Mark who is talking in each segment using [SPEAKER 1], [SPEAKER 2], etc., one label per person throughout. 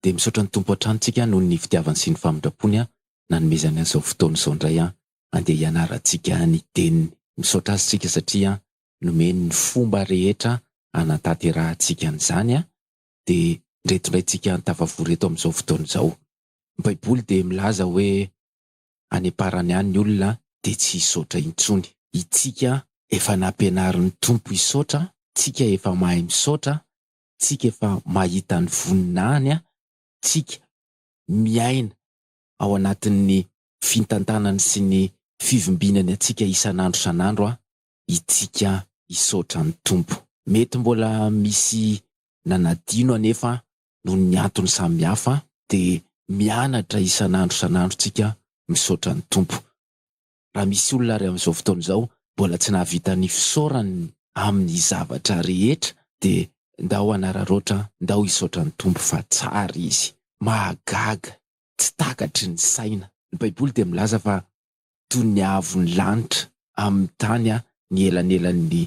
[SPEAKER 1] dia misaotra ny Tompo hatrany tsika noho ny fitiavany sy ny famindrampony an nanomezany an zao fotoana izao indray an andeha hianarantsika ny teniny misaotra azy tsika satria an nomeny ny fomba rehetra hanantaterahantsika an'izany an dia ndreto indray tsika tafavory eto amin'izao fotoana izao ny baiboly dia milaza hoe any amparany any ny olona dia tsy hisaotra intsony itsika efa nampianarin'ny Tompo hisaotra tsika efa mahay misaotra tsika efa mahita ny voninahiny an, tsika miaina ao anatin'ny fintantanany sy ny fivimbinany antsika isan'andro isan'andro an, itsika hisaotra ny Tompo. Mety mbola misy nanadino anefa an, noho ny antony samy hafa an, dia mianatra isan'andro isan'andro tsika misaotra ny Tompo. raha misy olona ary amin'izao fotoana izao mbola tsy nahavita ny fisaorany amin'ny zavatra rehetra dia ndao hanararaotra ndao hisaotra ny Tompo fa tsara Izy. Mahagaga, tsy takatry ny saina. Ny baiboly dia milaza fa toy ny haavo ny lanitra amin'ny tany ny elanelan'ny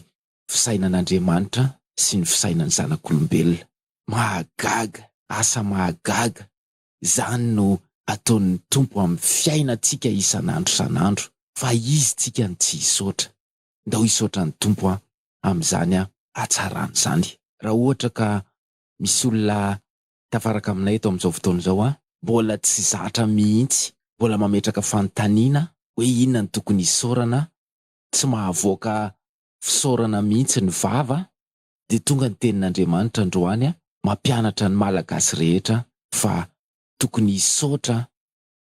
[SPEAKER 1] fisainan'Andriamanitra sy ny fisainan'ny zanak'olombelona. Mahagaga, asa mahagaga Izany no ataon'ny Tompo amin'ny fiainantsika isan'andro isan'andro fa Izy tsika no tsy hisaotra. Ndao hisaotra ny Tompo aho amin'izany hatsarany izany. Raha ohatra ka misy olona tafaraka aminay eto amin'izao fotoana izao an, mbola tsy zatra mihitsy, mbola mametraka fanontaniana hoe inona no tokony hisaorana, tsy mahavoaka fisaorana mihitsy ny vava, dia tonga ny tenin'Andriamanitra androany mampianatra ny Malagasy rehetra fa tokony hisaotra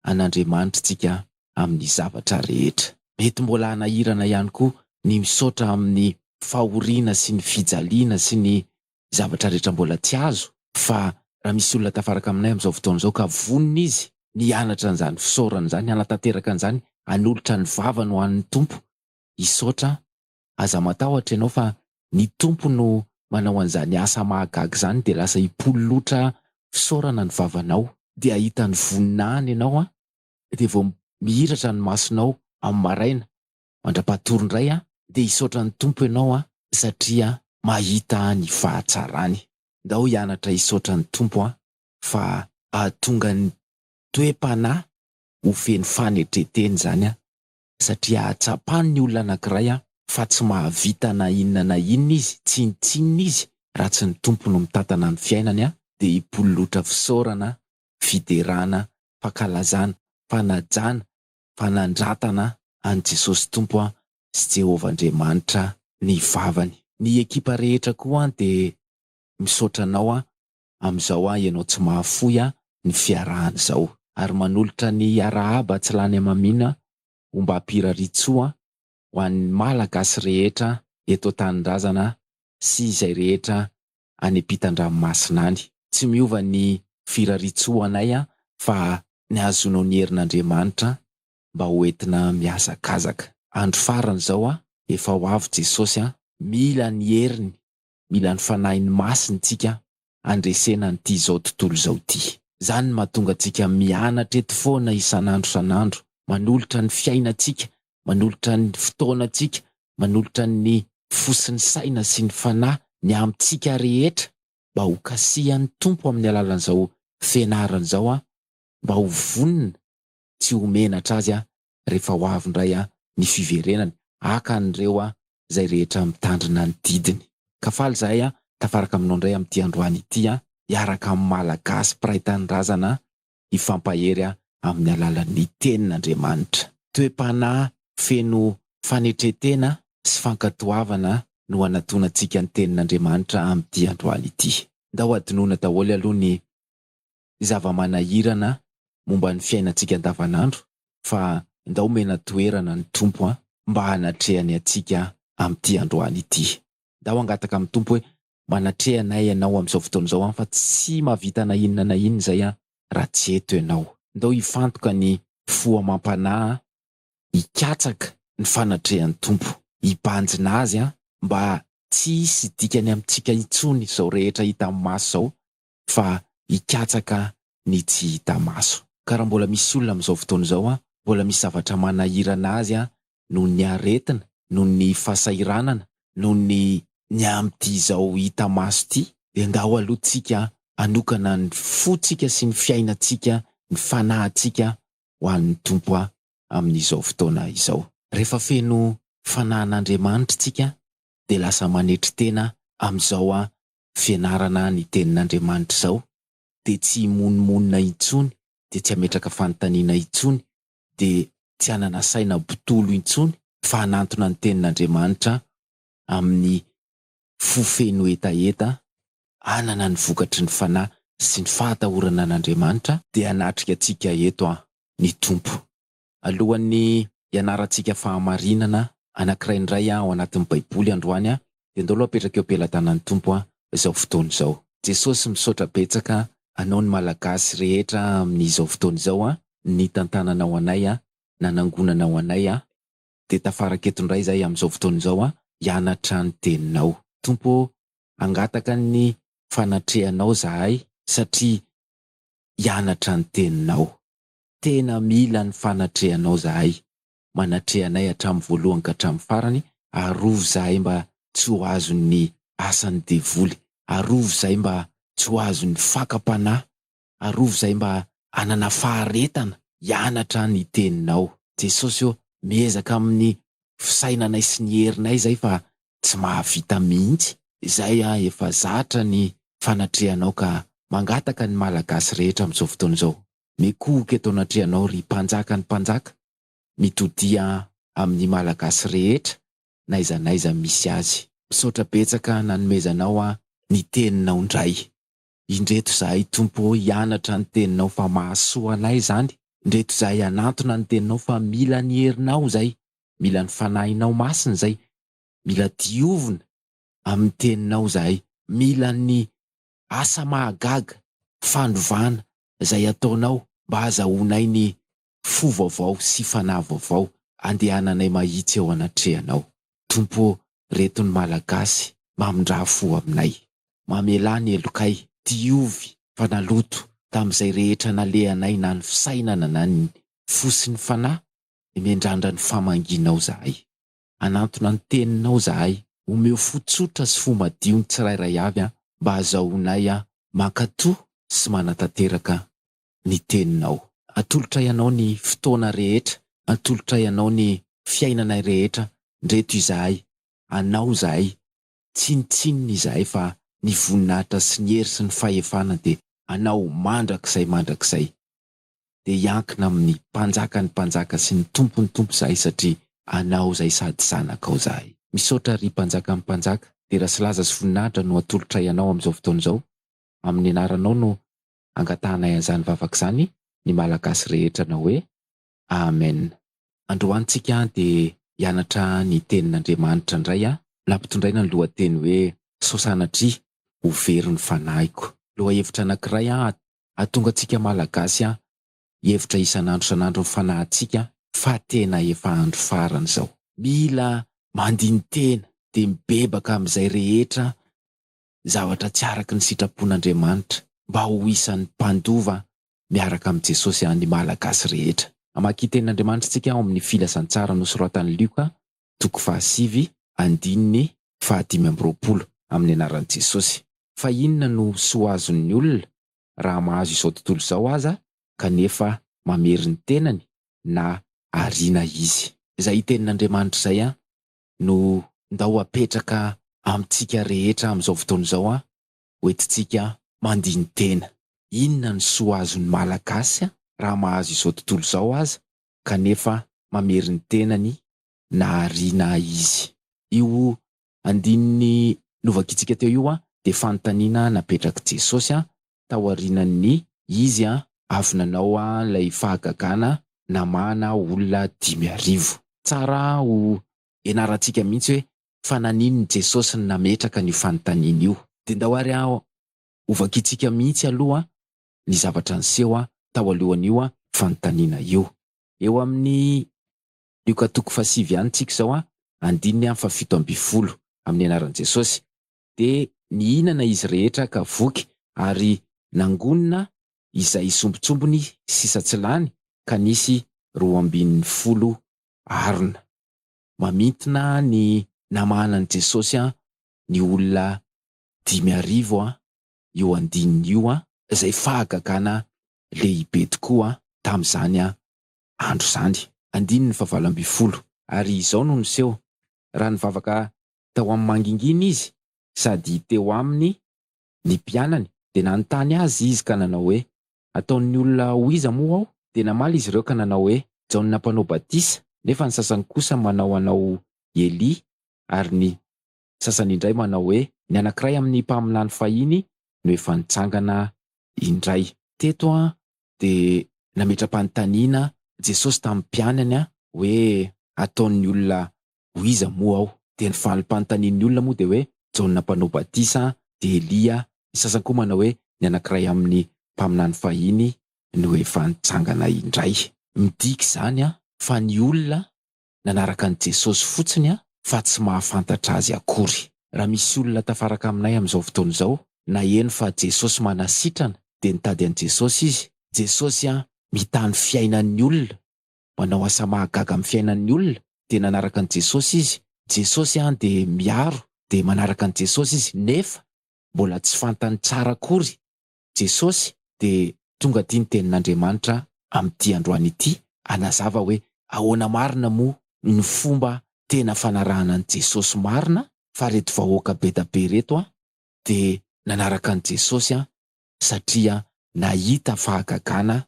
[SPEAKER 1] an'Andriamanitra isika amin'ny zavatra rehetra. Mety mbola hanahirana ihany koa ny misaotra amin'ny fahoriana sy ny fijaliana sy ny zavatra rehetra mbola tsy azo fa raha misy olona tafaraka aminay amin'izao fotoana izao ka vonona izy ny hianatra an'izany fisaorana izany, hanatanteraka an'izany, hanolotra ny vavany ho an'ny Tompo, hisaotra Aza matahotra ianao fa ny Tompo no manao an'izany asa mahagaga izany dia lasa hipololotra fisaorana ny vavanao. Dia hahita ny voninahiny ianao an! Dia vao mihiratra ny masonao amin'ny maraina mandra-pahatory indray an! Dia hisaotra ny Tompo ianao an! Satria mahita ny fahatsarany. Ndao hianatra hisaotra ny Tompo an! Fa hahatonga ny toe-panahy ho feno fanetren-tena izany an! satria tsapan'ny olona anankiray fa tsy mahavita na inona na inona izy, tsinontsinona izy raha tsy ny Tompo no mitantana ny fiainany dia hipololotra fisaorana, fiderana, fankalazana, fanajana, fanandratana an'i Jesosy Tompo sy Jehovah Andriamanitra ny vavany. Ny ekipa rehetra koa dia misaotra anao amin'izao aho ianao tsy mahafoy aho ny fiarahana izao. Ary manolotra ny arahaba tsy lany hamamiana ombam-piraritsoa ho an'ny Malagasy rehetra eto an-tanindrazana sy izay rehetra any ampitan-dranomasina any. Tsy miova ny firaritsoanay fa ny hahazoanao ny herin'Andriamanitra mba ho entina mihazakazaka. Andro farany izao, efa ho avy Jesosy a! Mila ny heriny mila ny Fanahiny Masiny tsika handresena an'ity izao tontolo izao ity. Izany no mahatonga antsika mianatra eto foana isan'andro isan'andro, manolotra ny fiainantsika, manolotra ny fotoanantsika, manolotra ny fo sy ny saina sy ny fanahy, ny amintsika rehetra mba ho kasihan'ny Tompo amin'ny alalan'izao fianarana izao mba ho vonona tsy ho menatra Azy rehefa ho avy indray ny fiverenany, haka an'ireo izay rehetra mitandrina ny didiny. Ka faly izahay tafaraka aminao indray amin'ity androany ity, hiaraka amin'ny Malagasy mpiray tanindrazana hifampahery amin'ny alalan'ny Tenin'Andriamanitra. Toe-panahy feno fanetren-tena sy fankatoavana no hanatonantsika ny Tenin'Andriamanitra amin'ity androany ity. Ndao hadinoina daholo aloha ny zava-manahirana momba ny fiainantsika andavanandro fa ndao omena toerana ny Tompo an mba hanatrehany antsika amin'ity androany ity. Ndao hangataka amin'ny Tompo hoe manatreha anay Ianao amin'izao fotoana izao an fa tsy mahavita na inona na inona izay an raha tsy eto Ianao. Ndao hifantoka ny fo amam-panahy an, hikatsaka ny fanatrehan'ny Tompo, hibanjina Azy an mba tsy hisy dikany amintsika intsony izao rehetra hita amin'ny maso izao fa hikatsaka ny tsy hita maso. Ka raha mbola misy olona amin'izao fotoana izao mbola misy zavatra manahirana azy noho ny aretina, noho ny fahasahiranana, noho ny ny amin'ity izao hita maso ity dia ndao aloha tsika hanokana ny fotsika sy ny fiainantsika, ny fanahintsika ho an'ny Tompo amin'izao fotoana izao. Rehefa feno fanahin'Andriamanitra tsika dia lasa manetry tena amin'izao fianarana ny tenin'Andriamanitra izao dia tsy himonomonona intsony, dia tsy hametraka fanontaniana intsony, dia tsy hanana saina mpitolo intsony fa hanantona ny tenin'Andriamanitra amin'ny fo feno hetaheta, hanana ny vokatry ny fanahy sy ny fahatahorana an'Andriamanitra, dia hanatrika antsika eto an, ny Tompo. Alohan'ny hianarantsika fahamarinana anankiray indray ao anatin'ny Baiboly androany, dia ndao aloha apetraka eo am-pelatanan'ny Tompo izao fotoana izao. Jesosy, misaotra betsaka Anao ny Malagasy rehetra amin'izao fotoana izao nitantananao anay, nanangonanao anay, dia tafaraka eto indray izahay amin'izao fotoana izao hianatra ny Teninao. Tompo ô, hangataka ny fanatrehanao izahay satria hianatra ny Teninao. Tena mila ny fanatrehanao zahay, manatreha anay hatramin'ny voalohany ka hatramin'ny farany, arovy zahay mba tsy ho azon'ny asan'ny devoly, arovy zahay mba tsy ho azon'ny fakam-panahy, arovy zahay mba hanana faharetana hianatra ny teninao. Jesosy ô, miezaka amin'ny fisainanay sy ny herinay zay fa tsy mahavita mihitsy. Zay an efa zatra ny fanatrehanao ka mangataka ny malagasy rehetra amin'izao fotoana izao mikohoka eto anatrehanao ry mpanjakan'ny mpanjaka mitodia amin'ny malagasy rehetra n'aiza n'aiza misy azy. Misaotra betsaka nanomezanao ahy ny teninao ndray. Indreto izahay Tompo ô hianatra ny teninao fa mahasoa anay izany, indreto izahay hanantona ny teninao fa mila ny herinao izay, mila ny fanahinao masina izay, mila diovina amin'ny teninao izahay, mila ny asa mahagaga, fanovana, izay ataonao mba hazahoanay ny fo vaovao sy fanahy vaovao andehananay mahitsy eo anatrehanao Tompo ô reto ny Malagasy mamindrà fo aminay mamelà ny helokay diovy fa naloto tamin'izay rehetra nalehanay na ny fisainana na ny fo sy ny fanahy ny mendrandra ny famangianao zahay anantona ny teninao zahay omeo fo tsotra sy fo madio ny tsirairay avy an mba azahoanay an mankatoa sy manatanteraka ny Teninao. Atolotray Anao ny fotoana rehetra, atolotray Anao ny fiainanay rehetra, ndreto izahay, Anao izahay, tsinontsinona izahay fa ny voninahitra sy ny hery sy ny fahefana dia Anao mandrakizay mandrakizay. Dia hiankina amin'ny Mpanjakan'ny mpanjaka sy ny Tompon'ny tompo izahay satria Anao izay sady Zanakao izahay. Misaotra ry Mpanjakan'ny mpanjaka, dera sy laza sy voninahitra no atolotray Anao amin'izao fotoana izao, amin'ny Anaranao no angatahanay an'izany vavaka izany ny Malagasy rehetra anao hoe Amen. Androany tsika dia hianatra ny tenin'Andriamanitra indray an! Nampitondraina ny lohateny hoe sao sanatria ho very ny fanahiko. Lohahevitra anankiray hahatonga antsika Malagasy hihevitra isan'andro isan'andro ny fanahintsika fa tena efa andro farany izao. Mila mandini-tena dia mibebaka amin'izay rehetra zavatra tsy araka ny sitrapon'Andriamanitra mba ho isan'ny mpandova miaraka amin'i Jesosy ny Malagasy rehetra. Hamaky tenin'Andriamanitra isika ao amin'ny Filazantsara nosoratan'i Lioka, toko fahasivy, andininy fahadimy amby roapolo, amin'ny anaran'i Jesosy. Fa inona no soa azon'ny olona raha mahazo izao tontolo izao aza kanefa mamery ny tenany na ariana izy? Izay tenin'Andriamanitra izay an! no ndao apetraka amintsika rehetra amin'izao fotoana izao an! hoentintsika mandini-tena. Inona ny soa azon'ny Malagasy raha mahazo izao tontolo izao aza kanefa mamery ny tenany na ariana izy? Io andininy novakitsika teo io dia fanontaniana napetrak'i Jesosy taorianan'ny izy avy nanao ilay fahagagana namahana olona dimy arivo. Tsara ho ianarantsika mihitsy hoe fa naninona Jesosy no nametraka an'io fanontaniana io. Dia ndao ary hovakintsika mihitsy aloha ny zavatra niseho tao alohan'io fanontaniana io. Eo amin'ny Lioka toko fahasivy ihany tsika izao, andininy fahafito ambin'ny folo, amin'ny anaran'i Jesosy, dia nihinana izy rehetra ka voky, ary nangonina izay sombintsombiny sisa tsy lany, ka nisy roa ambin'ny folo arona. Mamintina ny namahana an'i Jesosy an, ny olona dimy arivo an, io andininy io an, izay fahagagana lehibe tokoa tamin'izany andro izany. Andininy fahavalo ambin'ny folo, ary izao no niseho, raha nivavaka tao amin'ny mangingina izy sady teo aminy ny mpianany dia nanontany azy izy ka nanao hoe, Ataon'ny olona ho iza moa aho? Dia namaly izy ireo ka nanao hoe, Jaona Mpanao Batisa, nefa ny sasany kosa manao anao i Elia, ary ny sasany indray manao hoe, ny anankiray amin'ny mpaminany fahiny no efa nitsangana indray. Teto dia nametra-panontaniana Jesosy tamin'ny mpianany hoe, Ataon'ny olona ho iza moa aho? Dia ny falim-panontanian'ny olona moa dia hoe Jaona Mpanao Batisa, dia Elia, ny sasany koa manao hoe ny anankiray amin'ny mpaminany fahiny no efa nitsangana indray. Midika izany fa ny olona nanaraka an'i Jesosy fotsiny fa tsy mahafantatra azy akory. Raha misy olona tafaraka aminay amin'izao fotoana izao, naheno fa Jesosy manasitrana dia nitady an'i Jesosy izy, Jesosy mitany fiainan'ny olona manao asa mahagaga amin'ny fiainan'ny olona dia nanaraka an'i Jesosy izy, Jesosy an dia miaro dia manaraka an'i Jesosy izy nefa mbola tsy fantany tsara akory Jesosy dia tonga aty ny tenin'Andriamanitra amin'ity androany ity hanazava hoe ahoana marina moa ny fomba tena fanarahana an'i Jesosy marina fa reto vahoaka bedabe reto an dia nanaraka an'i Jesosy an satria nahita fahagagana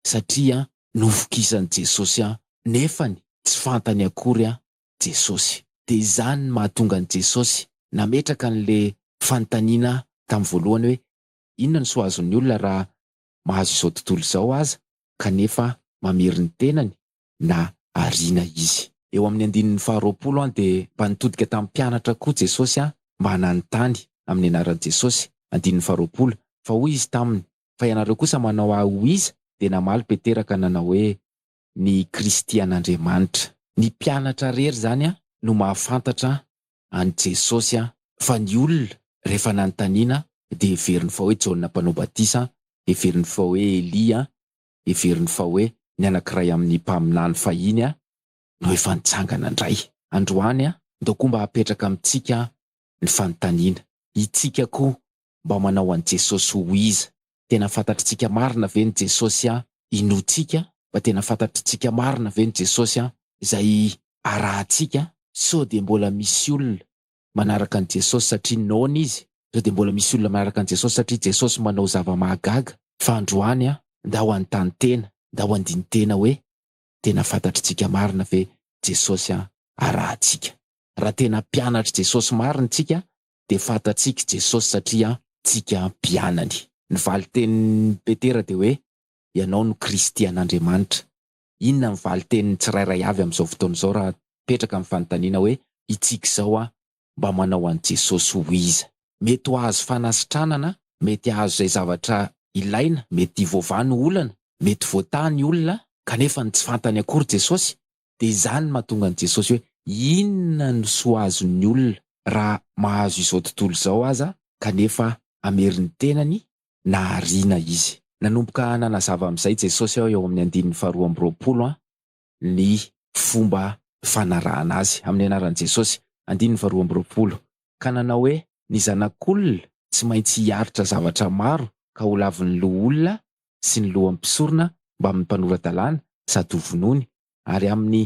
[SPEAKER 1] satria novokisan'i Jesosy aho nefany tsy fantany akory aho Jesosy. Dia izany no mahatonga an'i Jesosy nametraka an'le fanontaniana tamin'ny voalohany hoe inona no soa azon'ny olona raha mahazo izao tontolo izao aza kanefa mamery ny tenany na ariana izy. Eo amin'ny andininy faharoapolo an dia mba nitodika tamin'ny mpianatra koa Jesosy an mba nanontany amin'ny anaran'i Jesosy, andininy faharoapolo, fa hoy izy taminy fa ianareo kosa manao ahy ho iza? Dia namaly Petera ka nanao hoe, Ny Kristy an'Andriamanitra. Ny mpianatra rery izany no mahafantatra an'i Jesosy fa ny olona rehefa nanontaniana dia heveriny fa hoe Jaona Mpanao Batisa, heveriny fa hoe Elia, heveriny fa hoe ny anankiray amin'ny mpaminany fahiny no efa nitsangana indray. Androany, ndao koa mba hapetraka amintsika ny fanontaniana. Itsika koa mba manao an'i Jesosy ho iza? Tena fantatritsika marina ve ny Jesosy an? Inoantsika fa tena fantatritsika marina ve ny Jesosy an? Izay arahantsika an? Sao dia mbola misy olona manaraka an'i Jesosy satria noana Izy? Sao dia mbola misy olona manaraka an'i Jesosy satria Jesosy manao zava-mahagaga? Fa androany an, ndao hanontany tena, ndao handini tena hoe, tena fantatritsika marina ve Jesosy an? Arahantsika. Raha tena mpianatr'i Jesosy marina isika dia fantatsika i Jesosy satria tsika mpianany. Ny valin-tenin'i Petera dia hoe, Ianao no Kristy an'Andriamanitra. Inona ny valin-tenin'ny tsirairay avy amin'izao fotoana izao raha hipetraka ny fanontaniana hoe, Itsika izao an, mba manao an'i Jesosy ho iza? Mety ho ahazo fanasitranana, mety hahazo izay zavatra ilaina, mety voavaha ny olana, mety voataha ny olona, kanefa ny tsy fantany akory Jesosy dia izany no mahatonga an'i Jesosy hoe, Inona no soa azon'ny olona raha mahazo izao tontolo izao aza kanefa hamery ny tenany na hariana izy? Nanomboka nanazava amin'izay Jesosy eo amin'ny andininy faharoa amby roapolo ny fomba fanarahana Azy, amin'ny anaran'i Jesosy, andininy faharoa amby roapolo, ka nanao hoe, Ny Zanak'olona tsy maintsy hiaritra zavatra maro ka holavin'ny loholona sy ny lohan'ny mpisorona mbamin'ny mpanora-dalàna sady hovonoiny, ary amin'ny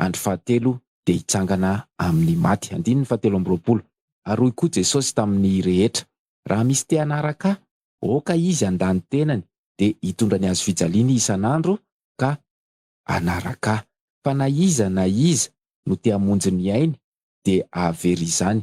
[SPEAKER 1] andro fahatelo dia hitsangana amin'ny maty. Andininy fahatelo amby roapolo. Ary hoy koa Jesosy tamin'ny rehetra, Raha misy te hanaraka ahy, aoka izy handà ny tenany, dia hitondra ny hazofijaliany isan'andro ka hanaraka ahy. Fa na iza na iza no te hamonjy ny ainy dia hahavery izany,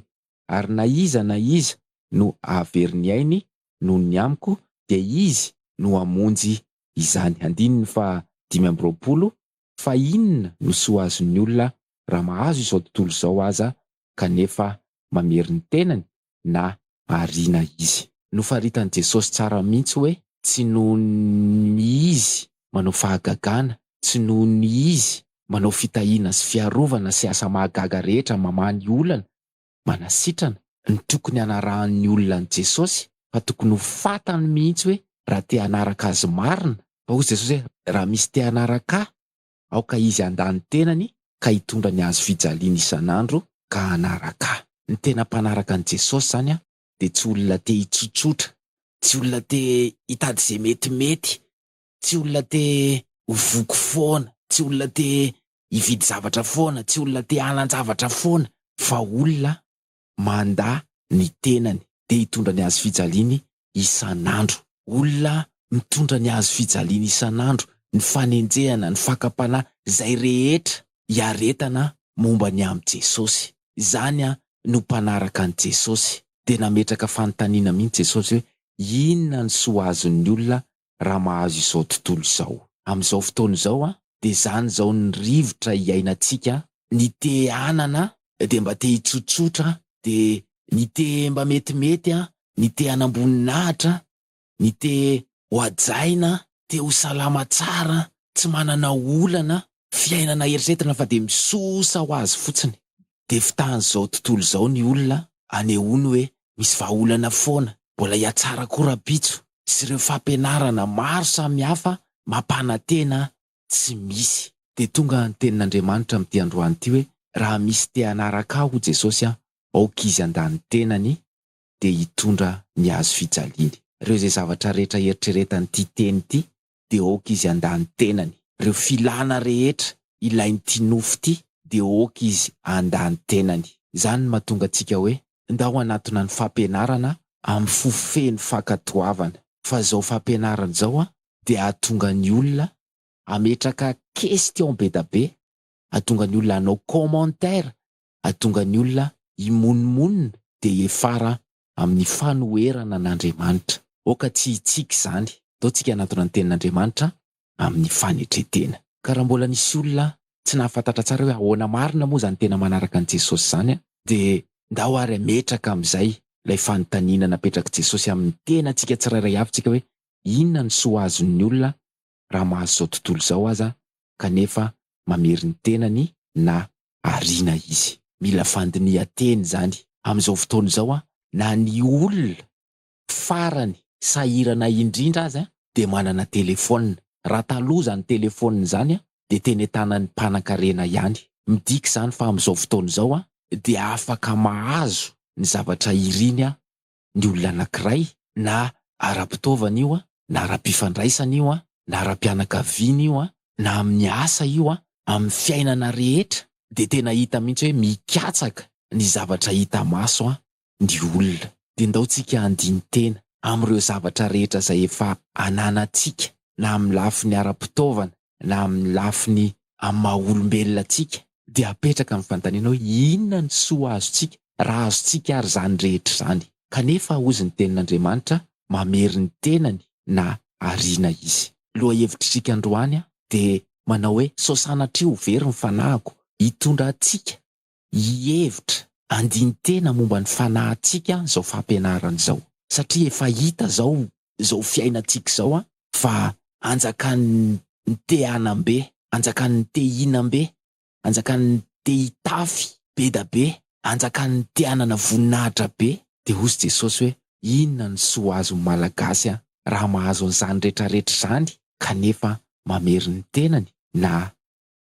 [SPEAKER 1] ary na iza na iza no hahavery ny ainy noho ny amiko dia izy no hamonjy izany Andininy faha dimy amby roapolo Fa inona no soa azon'ny olona raha mahazo izao tontolo izao aza kanefa mamery ny tenany na ariana izy. Nofaritan'i Jesosy tsara mihitsy hoe tsy noho ny izy manao fahagagana, tsy noho ny izy manao fitahiana sy fiarovana sy asa mahagaga rehetra mamaha ny olana manasitrana ny tokony hanarahan'ny olona an'i Jesosy fa tokony ho fantany mihitsy hoe raha te hanaraka Azy marina fa hoy Jesosy hoe raha misy te hanaraka Ahy aoka izy handà ny tenany ka hitondra ny hazo fijaliany isan'andro ka hanaraka Ahy. Ny tena mpanaraka an'i Jesosy izany dia tsy olona te hitsotsotra, tsy olona te hitady izay metimety, tsy olona te ho voky foana, tsy olona te hividy zavatra foana, tsy olona te hanan-javatra foana fa olona mandà ny tenany, dia hitondra ny hazo fijaliany isan'andro. Olona mitondra ny hazo fijaliany isan'andro, ny fanenjehana, ny fakam-panahy, izay rehetra iaretana momba ny amin'i Jesosy. Izany no mpanaraka an'i Jesosy. Dia nametraka fanontaniana mihitsy Jesosy hoe, Inona ny soa azon'ny olona raha mahazo izao tontolo izao. Amin'izao fotoana izao dia izany izao ny rivotra iainantsika, ny te hanana dia mba te hitsotsotra, dia ny te mba metimety, ny te hanam-boninahitra, ny te ho hajaina, te ho salama tsara, tsy manana olana, Fiainana eritreretina fa dia misosa ho azy fotsiny. Dia fotahan'izao tontolo izao ny olona anehoany hoe misy vahaolana foana mbola hiatsara koa rahampitso sy ireo fampianarana maro samihafa mampanantena tsy misy. Dia tonga ny tenin'Andriamanitra amin'ity androany ity hoe, Raha misy te hanaraka Ahy, hoy Jesosy, aoka izy handà ny tenany dia hitondra ny hazo fijaliany. Ireo izay zavatra rehetra eritreretan'ity teny ity dia ok izy handa ny tenany. Reo filana rehetra ilain ty nofo ty dia ok izy handa ny tenany. Zany no matonga antsika hoe ndao hanatona ny fampianarana am fo feno fankatoavana. Fa zao fampianarana zao an dia hatonga ny olona hametraka question bedabe, hatonga ny olona hanao commentaire, hatonga ny olona himonomonona dia hiafara amin'ny fanoherana an'Andriamanitra. Aoka tsy hitsiky izany. Ataontsika hanatona ny Tenin'Andriamanitra amin'ny fanetren-tena. Ka raha mbola nisy olona tsy nahafantatra tsara hoe ahoana marina moa izany tena manaraka an'i Jesosy izany, dia ndao ary hametraka amin'izay ilay fanontaniana napetrak'i Jesosy amin'ny tenantsika tsirairay avy tsika hoe, Inona no soa azon'ny olona raha mahazo izao tontolo izao aza kanefa mamery ny tenany na ariana izy. Mila fandinihan-tena izany amin'izao fotoana izao an, na ny olona farany sahirana indrindra aza dia manana telefaonina, raha taloha izany telefaonina izany dia teny an-tanan'ny mpanankarena ihany. Midika izany fa amin'izao fotoana izao dia afaka mahazo ny zavatra iriny ny olona anankiray, na ara-pitaovana io, na ara-pifandraisana io, na ara-pianakaviana io, na amin'ny asa io, amin'ny fiainana rehetra, dia tena hita mihitsy hoe mikatsaka ny zavatra hita maso ny olona. Dia ndao tsika handini-tena amin'ireo zavatra rehetra izay efa ananantsika na amin'ny lafiny ara-pitaovana, na amin'ny lafiny amin'ny maha olombelona antsika, dia apetraka ny fanontaniana hoe, Inona ny soa azontsika, raha azontsika ary izany rehetra izany? Kanefa, hozy ny Tenin'Andriamanitra, mamery ny tenany na ariana izy. Lohahevitr'isika androany dia manao hoe, Sao sanatria ho very ny fanahiko, hitondra antsika hihevitra andinin-tena momba ny fanahintsika izao fampianarana izao, satria efa hita izao izao fiainantsika izao fa anjakan'ny te hanam-be, anjakan'ny te hihinam-be, anjakan'ny te hitafy be da be, anjakan'ny te hanana voninahitra be. Dia hozy Jesosy hoe, inona no soa azon'ny Malagasy raha mahazo an'izany rehetrarehetra izany kanefa mamery ny tenany na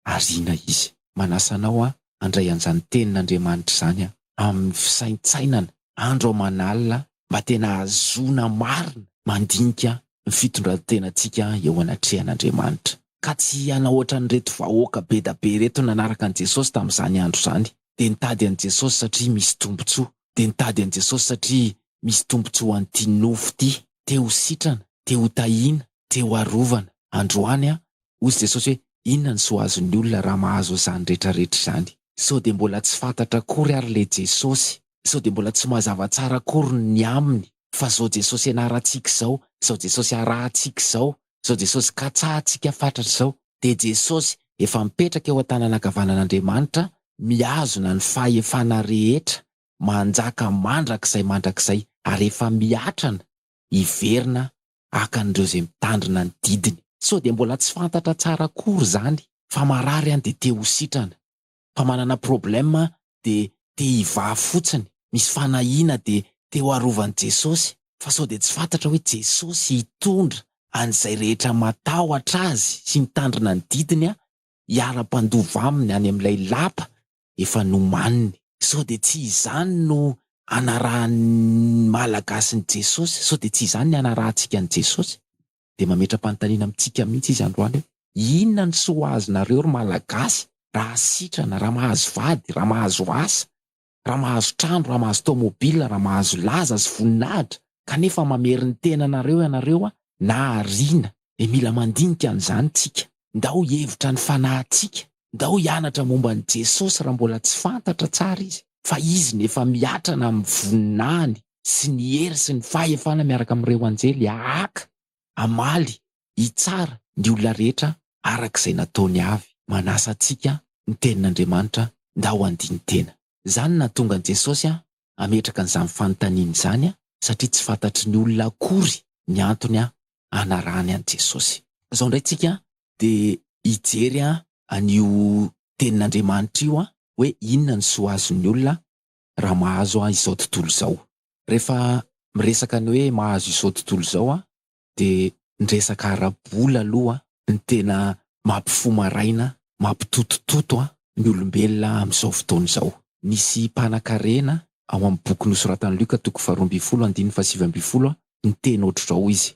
[SPEAKER 1] Ariana izy. Manasa anao aho handray an'izany Tenin'Andriamanitra izany amin'ny fisaintsainana andro aman'alina mba tena hahazoana marina mandinika ny fitondran-tenantsika eo anatrehan'Andriamanitra. Ka tsy hanao ohatran'ireto vahoaka bedabe ireto nanaraka an'i Jesosy tamin'izany andro izany. Dia nitady an'i Jesosy satria misy tombontsoa. Dia nitady an'i Jesosy satria misy tombontsoa an'ity nofo ity. Te ho sitrana, te ho tahiana, te ho arovana. Androany aho Hoy Jesosy hoe, Inona ny soa azon'ny olona raha mahazo izany rehetrarehetra izany? Sao dia mbola tsy fantatra akory ary ilay Jesosy? Sao dia mbola tsy mazava tsara akory ny aminy fa izao Jesosy ianarantsika izao, izao Jesosy arahintsika izao, izao Jesosy katsahantsika fatratra izao? Dia Jesosy, efa mipetraka eo an-tanana ankavanan'Andriamanitra, mihazona ny fahefana rehetra, manjaka mandrakizay mandrakizay, ary efa miatrana hiverina hakan'ireo izay mitandrina ny didiny. Sao dia mbola tsy fantatra tsara akory izany fa marary an dia te ho sitrana, fa manana problème dia te hivaha fotsiny, misy fanahiana dia te ho arovan'i Jesosy, fa sao dia tsy fantatra hoe Jesosy hitondra an'izay rehetra matahotra Azy sy mitandrina ny didiny hiara-mpandova aminy any amin'ilay lapa efa nomaniny. Sao dia tsy izany no anarahan'ny Malagasy ny Jesosy? Sao dia tsy izany ny anarahantsika ny Jesosy? Dia mametra-panontaniana amintsika mihitsy izy androany hoe, inona ny soa azonareo ry Malagasy raha sitrana, raha mahazo vady, raha mahazo asa, raha mahazo trano, raha mahazo taomobil, raha mahazo laza sy voninahitra, kanefa mamerin-tena anareo ianareo na ariana. dia mila mandinika an'izany tsika. Ndao hihevitra ny fanahintsika, ndao hianatra momba an'i Jesosy raha mbola tsy fantatra tsara Izy, fa Izy no efa miatrana amin'ny voninahiny sy ny hery sy ny fahefana miaraka amin'ireo anjely hahaka, hamaly, hitsara ny olona rehetra araka izay nataony avy. Manasa antsika ny Tenin'Andriamanitra ndao handini-tena. Izany no nahatonga an'i Jesosy hametraka an'izany fanontaniana izany, satria tsy fantatry ny olona akory ny antony hanarahany an'i Jesosy. Izao indray isika dia hijery an'io Tenin'Andriamanitra io hoe inona ny soa azon'ny olona raha mahazo izao tontolo izao. Rehefa miresaka ny hoe mahazo izao tontolo izao de ny resaka ara-bola aloha no tena mampifo maraina, mampitotototo an ny olombelona amin'izao fotoana izao. Nisy mpanakarena ao amin'ny boky nosoratan'i Lioka toko faharoa ambin'ny folo andininy fahasivy ambin'ny folo niteny ohatr'izao hoy izy,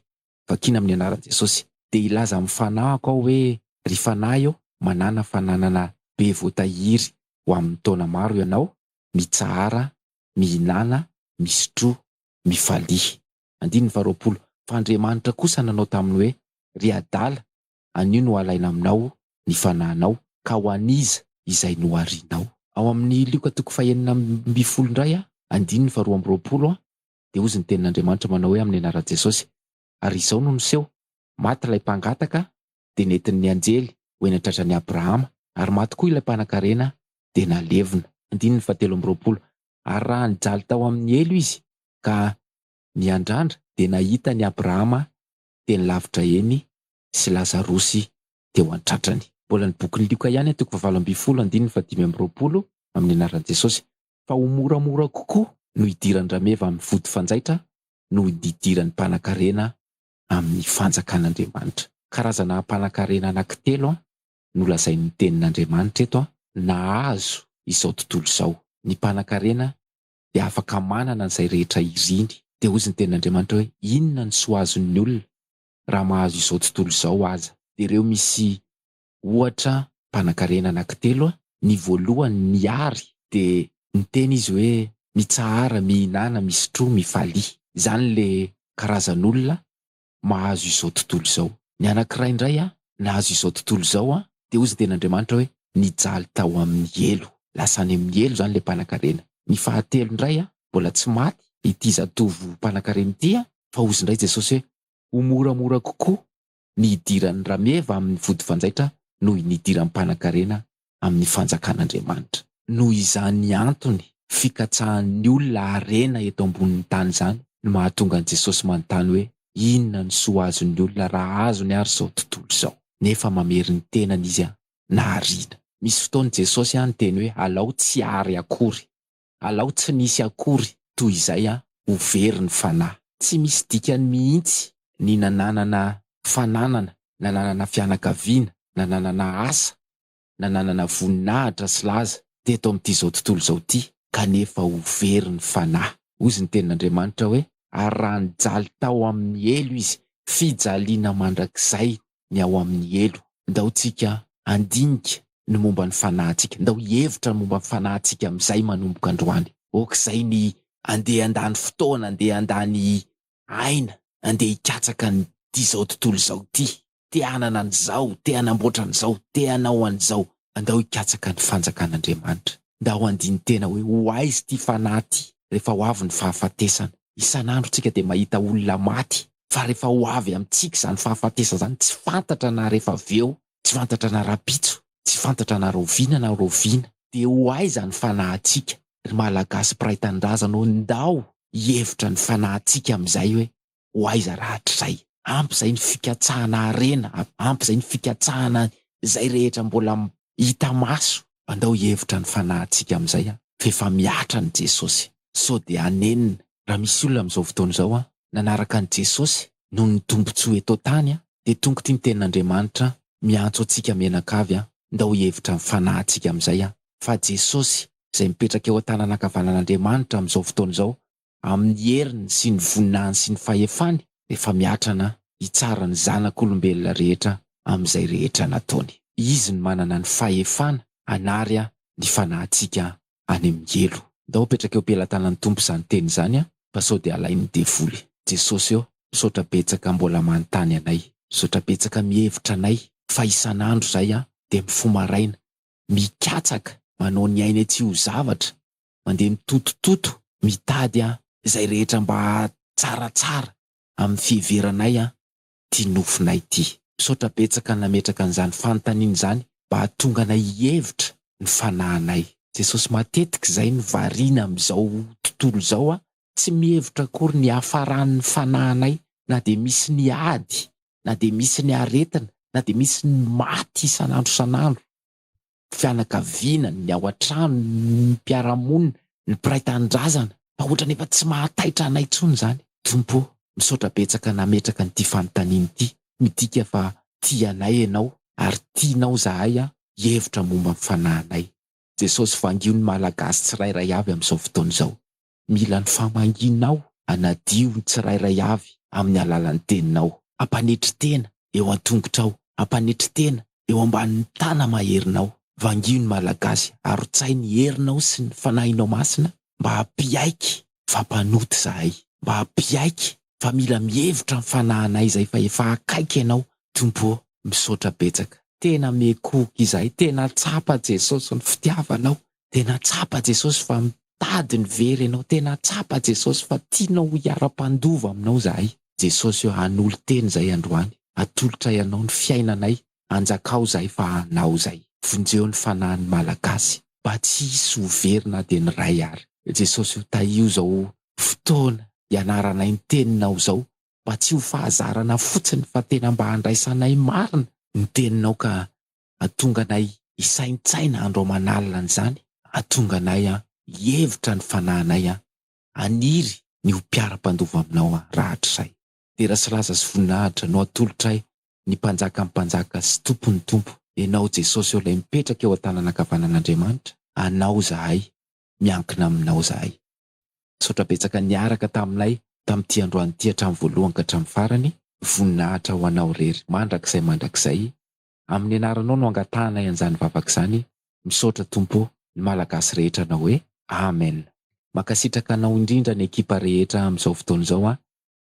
[SPEAKER 1] vakiana amin'ny anaran'i Jesosy, dia hilaza amin'ny fanahiko aho hoe, Ry fanahy ô, manàna fananana be voatahiry ho amin'ny taona maro ianao, mitsahara, mihinàna, misotroa, mifalia. Andininy faharoapolo, Fa Andriamanitra kosa nanao taminy hoe, Ry adala, anio no halaina aminao ny fanahinao, ka ho an'iza izay noharinao? Ao amin'ny Lioka toko fahenina amby folo indray, andininy faharoa amby roapolo, dia hozy ny tenin'Andriamanitra manao hoe amin'ny anaran'i Jesosy, ary izao no niseho, maty ilay mpangataka, dia nentin'ny anjely ho eny an-tratran'i Abrahama, ary maty koa ilay mpanankarena, dia nalevina. Andininy fahatelo amby roapolo, Ary raha nijaly tao amin' ny helo izy ka niandrandra, dia nahita an' i Abrahama teny lavitra eny sy i Lazarosy teo an-tratrany. Mbola ny bokin' i Lioka ihany an, toko fahavalo ambin'ny folo, andininy fahadimy amby roapolo, amin' ny anaran' i Jesosy. Fa ho moramora kokoa no hidiran-drameva amin' ny vody fanjaitra noho ny hidiran' ny mpanakarena amin' ny fanjakan' Andriamanitra. Karazana ampanankarena anankitelo nolazain'ny Tenin'Andriamanitra eto nahazo izao tontolo izao. Ny mpanankarena dia afaka manana an'izay rehetra iriny. Dia hoy ny Tenin'Andriamanitra hoe, Inona no soa azon'ny olona raha mahazo izao tontolo izao aza? Dia ireo misy ohatra mpanankarena anankitelo, ny voalohany niary dia niteny izy hoe, Mitsahara, mihinana, misotroa, mifalia. Izany ilay karazan'olona mahazo izao tontolo izao. Ny anankiray indray nahazo izao tontolo izao an, dia hoy izy ny tenin'Andriamanitra hoe, nijaly tao amin'ny helo. Lasa any amin'ny helo izany ilay mpanankarena. Ny fahatelo indray an, mbola tsy maty ity zatovo mpanankarena ity an, fa hoy izy indray Jesosy hoe, ho moramora kokoa ny hidiran'ny rameva amin'ny vodifanjaitra noho ny hidiran'ny mpanankarena amin'ny Fanjakan'Andriamanitra. Noho izany antony fikatsahan'ny olona harena eto ambonin'ny tany izany no mahatonga an'i Jesosy manontany hoe inona no soa azon'ny olona raha azony ary izao tontolo izao. Nefa mamery ny tenany izy nahariana. Misy fotoana Jesosy niteny hoe alao tsy hary akory. Alao tsy misy akory toy izay a ho very ny fanahy. Tsy misy dikany mihitsy ny nananana fananana, nananana fianakaviana, nananana asa, nananana voninahitra sy laza teto amin'ity izao tontolo izao ity kanefa ho very ny fanahy. Hoy izy ny tenin'Andriamanitra hoe, Ary raha nijaly tao amin'ny helo izy, fijaliana mandrakizay ny ao amin'ny helo. Ndao tsika handinika ny momba ny fanahintsika, ndao hihevitra ny momba ny fanahintsika amin'izay manomboka androany. Ok izay ny andeha handany fotoana, andeha handany aina, andeha hikatsaka an'ity izao tontolo izao ity, te hanana an'izao, te hanamboatra an'izao, te hanao an'izao. Andao hikatsaka ny fanjakan'Andriamanitra. Ndao handini-tena hoe ho aiza ity fanahy ity rehefa ho avy ny fahafatesana. Isan'andro tsika dia mahita olona maty fa rehefa ho avy amintsika izany fahafatesana izany tsy fantatra na rehefa avy eo, tsy fantatra na rahampitso, tsy fantatra na rahoviana na rahoviana. Dia ho aiza ny fanahintsika? Ry Malagasy mpiray tanindrazana ô ndao hihevitra ny fanahintsika amin'izay hoe ho aiza rahatrizay. Ampy izay ny fikatsahana harena, ampy izay ny fikatsahana izay rehetra mbola hita maso. Andao hihevitra ny fanahintsika amin'izay an! F'efa mihatra an'i Jesosy, sao dia hanenina. Raha misy olona amin'izao fotoana izao an, nanaraka an'i Jesosy noho ny tombontsoa eto an-tany an, dia tongotry ny Tenin'Andriamanitra miantso antsika mianakavy an, ndao hihevitra ny fanahintsika amin'izay an! Fa Jesosy izay mipetraka eo an-tanana ankavanan'Andriamanitra amin'izao fotoana izao amin'ny heriny sy ny voninahiny sy ny fahefany rehefa mihatra na hitsara ny zanak'olombelona rehetra amin'izay rehetra nataony. Izy no manana ny fahefana hanary ny fanahintsika any amin'ny helo. Ndao apetraka eo am-pelatanan'ny Tompo izany teny izany an! Fa sao dia alain'ny devoly. Jesosy ô, misaotra betsaka mbola manontany anay. Misaotra betsaka mihevitra anay fa isan'andro izahay dia mifoha maraina, mikatsaka, manao ny ainay tsy ho zavatra, mandeha mitotototo mitady an izay rehetra mba tsaratsara amin'ny fiheveranay an ity nofinay ity. Misaotra betsaka nametraka an'izany fanontaniana izany mba hahatonga anay hihevitra ny fanahinay. Jesosy matetika izay no variana amin'izao tontolo izao an, tsy mihevitra akory ny hiafaran'ny fanahinay na dia misy ny ady, na dia misy ny aretina, na dia misy ny maty isan'andro isan'andro. fianakaviana, ny ao an-trano, ny mpiara-monina, ny mpiray tanindrazana fa ohatran'ny efa tsy mahataitra anay intsony izany. Tompo ô, misaotra betsaka nametraka an'ity fanontaniana ity, midika fa tia anay Ianao ary tianao izahay hihevitra momba ny fanahinay. Jesosy, vangio ny Malagasy tsirairay avy amin'izao fotoana izao. Mila ny famahianao hanadio ny tsirairay avy amin'ny alalan'ny teninao. Ampanetry tena eo an-tongotrao, ampanetry tena eo ambanin'ny tana-maherinao. Vangio ny Malagasy, arotsay ny herinao sy ny Fanahinao Masina mba hampiaiky fa mpanota izahay, mba hampiaiky fa mila mihevitra ny fanahinay izay fa efa akaiky Ianao Tompo ô! Misaotra betsaka. Tena miekohoka izahay, tena tsapa Jesosy ny fitiavanao Tena tsapa Jesosy fa mitady ny very ianao tena tsapa Jesosy fa tianao ho hiara-mpandova aminao zahay Jesosy o hanolo tena zay androany atolotray anao ny fiainanay anjakao zahay fa anao zay vonjeo ny fanahin'ny malagasy mba tsy hisy ho very na dia ny ray ary Jesosy o tahio zao fotoana ianaranay ny teninao zao mba tsy ho fahazarana fotsiny fa tena mba handraisanay marina ny teninao ka Hahatonga anay hisaintsaina andro aman'alina an'izany, hahatonga anay hihevitra ny fanahinay, haniry ny ho mpiara-mpandova aminao rahatrizay. Dera sy laza sy voninahitra no atolotray ny Mpanjakan'ny mpanjaka sy Tompon'ny tompo, Ianao Jesosy ô Ilay mipetraka eo an-tanana ankavanan'Andriamanitra, Anao izahay, miankina Aminao izahay. Misaotra betsaka niaraka taminay tamin'ity androany ity hatramin'ny voalohany ka hatramin'ny farany, voninahitra ho Anao irery mandrakizay mandrakizay. Amin'ny anaranao no angatahanay an'izany vavaka izany, misaotra Tompo, ny Malagasy rehetra hanao hoe Amen. Mankasitraka anao indrindra ny ekipa rehetra amin'izao fotoana izao an!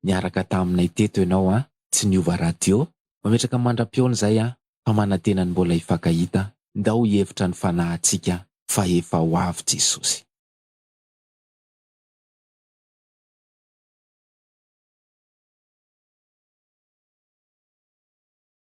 [SPEAKER 1] Niaraka taminay teto ianao an! Tsy niova radio! Mametraka mandra-pihaona izay an! Fa manantena ny mbola hifankahita! Ndao hihevitra ny fanahintsika fa efa ho avy Jesosy!